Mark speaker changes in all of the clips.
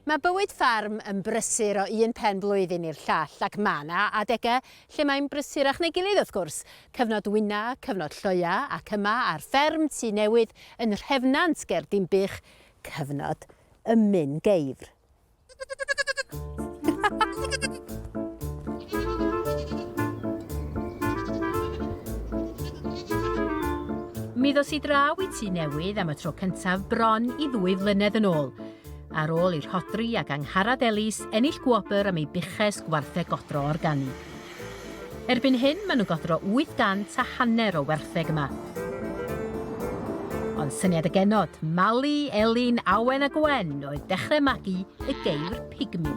Speaker 1: Mae bywyd ffarm yn brysur o un pen blwyddyn i'r llall ac mae 'na adegau lle mae'n brysurach na'i gilydd wrth gwrs. Cyfnod wyna, cyfnod lloia ac yma ar fferm Tŷ Newydd yn Nhrefnant ger Dinbych, cyfnod ymyn geifr. Mi ddos i draw i Tŷ Newydd am y tro cyntaf bron i ddwy flynedd yn ôl, ar ôl i Rhodri ac Angharad Ellis ennill gwobr am eu buches gwartheg godro organig. Erbyn hyn, maen nhw'n godro 800 a hanner o wertheg yma. Ond syniad y genod, Mali, Elin, Awen a Gwen oedd dechrau magu y geir pigmi.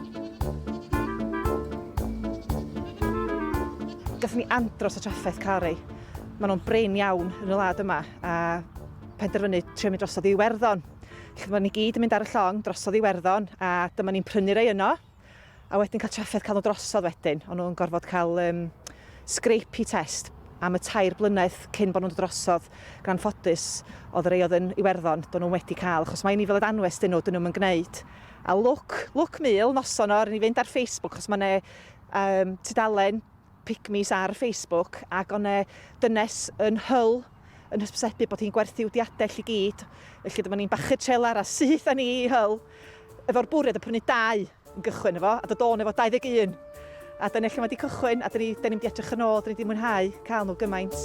Speaker 1: Gallwn ni andros o trafferth car ei. Maen nhw'n brin iawn yn y wlad yma a penderfynu trio mynd drosodd i Iwerddon. Felly maen ni gyd yn mynd ar y llong drosodd i Iwerddon a dyma ni'n prynu rei yno a wedyn cael trafferth cael nhw drosodd wedyn. Ond nhw'n gorfod cael um, scrapey test am y tair blynedd cyn bod nhw'n drosodd gan ffodus oedd rei oedd yn Iwerddon, do'n nhw'n wedi cael, achos mae'n ni fel y danwes dyn nhw, dyn nhw'n gwneud. A lwc, lwc mul noson o, ry'n i fynd ar Facebook, chos mae yna um, tudalen pygmies ar Facebook, ac o'n e dynes yn hyl yn hysbysebu bod hi'n gwerthu wdiadell i gyd, felly dyma ni'n bachu trelar a syth â ni i hyl, efo'r bwriad o prynu dau yn gychwyn efo, a dod o'n efo 21. A dyna lle mae wedi cychwyn, a dyn ni, dyn ni'n mynd i edrych yn ôl, dyn ni wedi mwynhau cael nhw gymaint.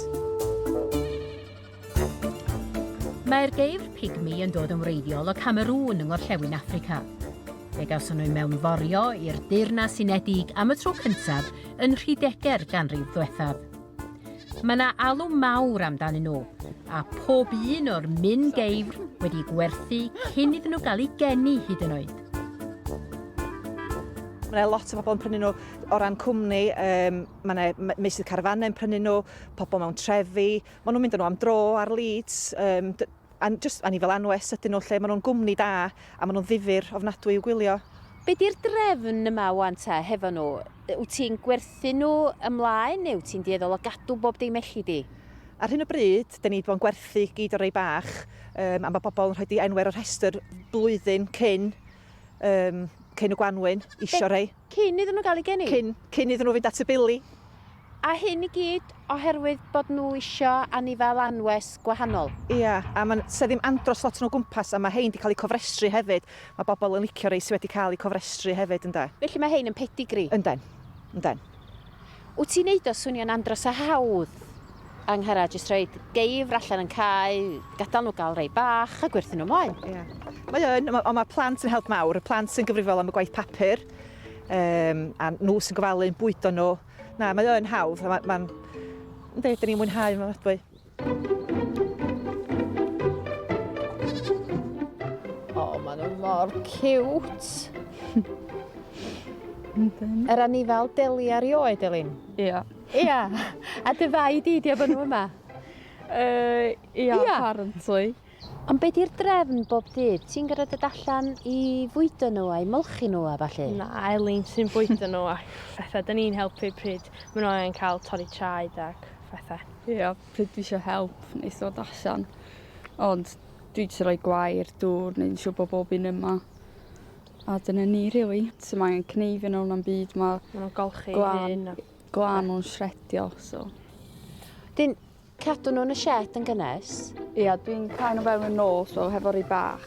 Speaker 1: Mae'r geifr pigmi yn dod yn wreiddiol o Camerŵn yng ngorllewin Affrica. Fe gawson nhw mewn forio i'r Deyrnas Unedig am y tro cyntaf yn rhydegau'r ganrif ddiwethaf. Mae yna alw mawr amdanyn nhw, a pob un o'r min geifr wedi gwerthu cyn iddyn nhw gael eu geni hyd yn oed. Mae yna lot o bobl yn prynu nhw o ran cwmni, um, mae yna meysydd carfanau yn prynu nhw, pobl mewn trefi, Maen nhw'n mynd â nhw am dro ar Leeds, yym, a jyst, a ni fel anwes ydyn nhw lle, maen nhw'n gwmni da a maen nhw'n ddifyr ofnadwy i'w gwylio. Be di'r drefn yma wan ta hefo nhw? Wyt ti'n gwerthu nhw ymlaen neu wyt ti'n dueddol o gadw bob dim elli di? Ar hyn o bryd, dan ni di bod yn gwerthu gyd o'r rei bach, yym, a ma' bobl yn rhoi di enw ar y rhestr flwyddyn cyn, yym, cyn y gwanwyn, isio rhei. Cyn iddyn nhw gael eu geni? Cyn, cyn iddyn nhw fynd at y bili. A hyn i gyd oherwydd bod nhw isio anifail anwes gwahanol? Ia, a mae'n, 'sa ddim andros lot yn o gwmpas, a mae hein 'di cael eu cofrestru hefyd, mae bobl yn licio rhei sy wedi cael eu cofrestru hefyd, ynde. Felly mae hein yn pedigree? Ynden, ynden. Wt ti'n neud o swnio'n andros o hawdd, Angharad, jyst rhoid geifr allan yn cae, gadael nhw gael rei bach a gwerthu nhw mlaen. Ie. Mae o yn, ond mae plant yn help mawr, y plant sy'n gyfrifol am y gwaith papur, um, a nhw sy'n gofalu'n bwydo nhw. Na, mae o yn hawdd, a mae'n... Ynddi, dyn ni'n mwynhau yma adwy. O, maen nhw mor cute. Yr anifal deli ar i oed, Elin? Ia. Ia. A dy fai di, di efo nhw yma? Uh, ia, ia, apparently. Ond be di'r drefn bob dydd? Ti'n gorfod dod allan i fwydo nhw a'i molchi nhw a falle? Na, Elin sy'n bwydo nhw ac fethau. Dyn ni'n helpu pryd maen nhw angen cael torri traed ac fethau. Ie, yeah, pryd dwi eisiau help, nes dod allan. Ond dwi eisiau rhoi gwair, dŵr, neu'n siw bod bob un yma. A dyna ni, really. So mae angen cneifio nhw na'n byd, mae... Mae nhw'n golchi glan, glan o'n sredio, so... Dyn, Cadw nhw yn y sied yn gynnes. Ia, dwi'n cael nhw fewn yn nos o hefo'r rhi bach.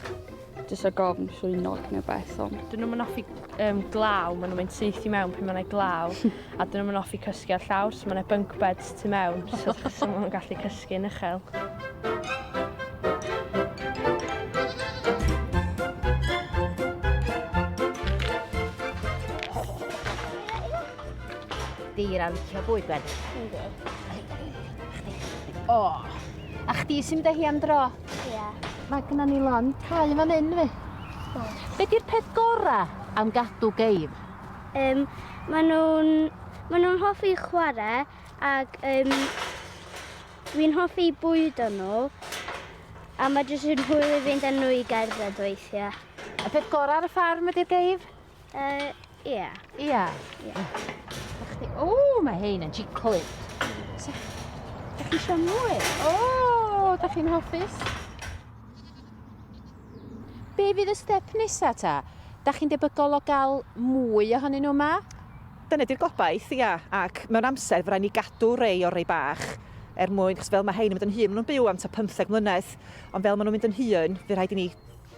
Speaker 1: Jyst o gofn llwynog neu beth ond. Dyn nhw'n mynd offi um, glaw, maen nhw'n mynd syth i mewn pan mae'n glaw, a dyn nhw'n mynd offi cysgu ar llawr, so mae'n bunk beds tu mewn, so, so maen nhw'n gallu cysgu yn uchel. Deir ar licio bwyd, Ben. Ynddo. O, a chdi sy'n mynd â hi am dro? Ie. Yeah. Mae gyda ni lon cael fan hyn, fi. Be di'r peth gorau am gadw geif? Um, mae nhw'n ma nhw hoffi chwarae ac um, fi'n hoffi bwyd o'n nhw a mae jyst yn hwyl i fynd â nhw i gerdded weithiau. Y peth gorau ar y ffarm ydy'r geif? Uh, ia. Ia? Ia. O, mae hein yn jiclyd. Da chi eisiau mwy? O, da chi'n hoffus? Be fydd y step nesa ta? Da chi'n debygol o gael mwy ohonyn nhw yma? Dyna di'r gobaith, ia. Ac mewn amser, fydda ni gadw rei o'r rei bach er mwyn, chos fel mae hein yn mynd yn hyn, maen nhw'n byw am ta 15 mlynedd, ond fel maen nhw'n mynd yn hyn, fe rhaid i ni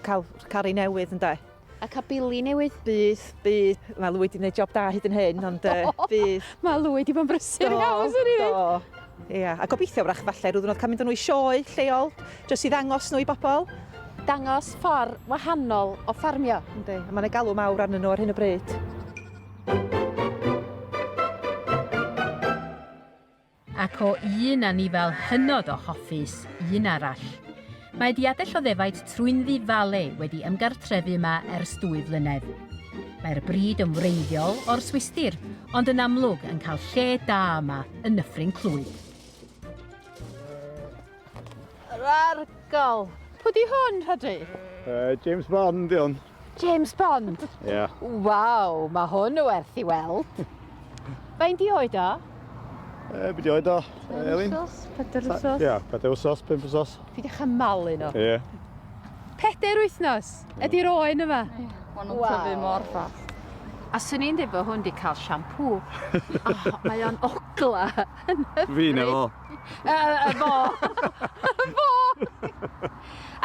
Speaker 1: cael, cael rei newydd, ynddo? A cael bili newydd. Bydd, bydd. Mae Lwy wedi gwneud job da hyd yn hyn, ond uh, bydd. Mae Lwy wedi bod yn brysur iawn, swn i ddweud. Ia, yeah. a gobeithio wrach falle rhyw ddwrnod cael mynd â nhw i sioe lleol, jyst i ddangos nhw i bobl. Dangos ffordd wahanol o ffarmio. Ynddi, a mae'n ei galw mawr arnyn nhw ar hyn o bryd. Ac o un anifail hynod o hoffus i un arall. Mae diadell o ddefaid trwynddi fale wedi ymgartrefu yma ers dwy flynedd. Mae'r brid yn wreiddiol o'r Swistir, ond yn amlwg yn cael lle da yma yn Nyffryn Clwyd. Rargol. Pwy di hwn, Rhodri? Uh, James Bond, di hwn. James Bond? Ie. Yeah. Waw, mae hwn o werth i weld. Fain di oed o? E, beth oedd o, Elin? Pedair wsos. Ia, pedair wsos, pimp wsos. Fi di chymalu nhw. Ie. Pedair wythnos? Ydy'r oen yma? Mae'n nhw'n tyfu mor ffas. A swn i'n dweud bod hwn wedi cael siampŵ. oh, mae o'n ogla. Fi na fo. fo. fo!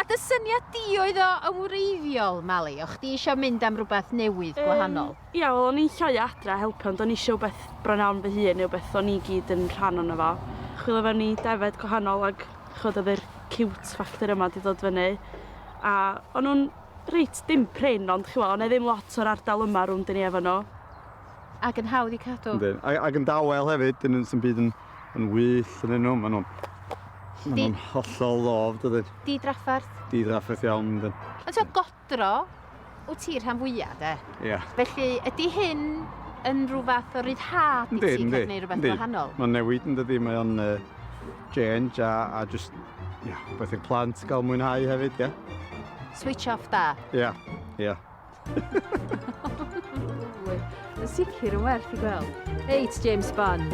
Speaker 1: A dy syniad di oedd o yn wreiddiol, Mali? O chdi eisiau mynd am rhywbeth newydd, gwahanol? Um, ia, wel, o'n i'n lloi adra helpu, ond o'n i eisiau beth bron iawn fy hun, neu beth o'n i gyd yn rhan o'n efo. Chwilio fewn i defed gwahanol ag chod oedd yr cute factor yma di dod fyny. A o'n nhw'n reit dim prin, ond chwilio, o'n e ddim lot o'r ardal yma rhwng dyn ni efo nhw. Ac yn hawdd i cadw. Ac yn dawel hefyd, dyn nhw'n sy'n byd yn yn wyllt yn nhw. Maen nhw'n maen nhw'n hollol ddof, dydyn. Di drafferth. Di drafferth iawn, dydyn. Ond ti'n godro, wyt ti rhan fwyaf, de? Ia. Yeah. Felly, ydy hyn yn rhywbeth o ryddhad i ti cael gwneud rhywbeth wahanol? Mae'n newid yn dydy, mae o'n uh, change a, a just, ia, yeah, beth i'r plant gael mwynhau hefyd, ia. Yeah. Switch off da? Ia, yeah. ia. Yeah. Yn sicr yn werth i gweld. Reit, James Bond.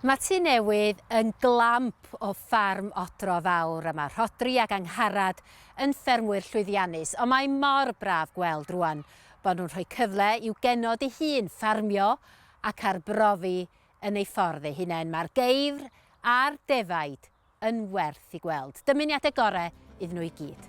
Speaker 1: Mae tu newydd yn glamp o ffarm odro fawr a mae Rhodri ac Angharad yn ffermwyr llwyddiannus ond mae mor braf gweld rwan bod nhw'n rhoi cyfle i'w genod ei hun ffarmio ac arbrofi yn ei ffordd ei hunain. Mae'r geifr a'r defaid yn werth i gweld. Dymuniadau gorau iddyn nhw i gyd.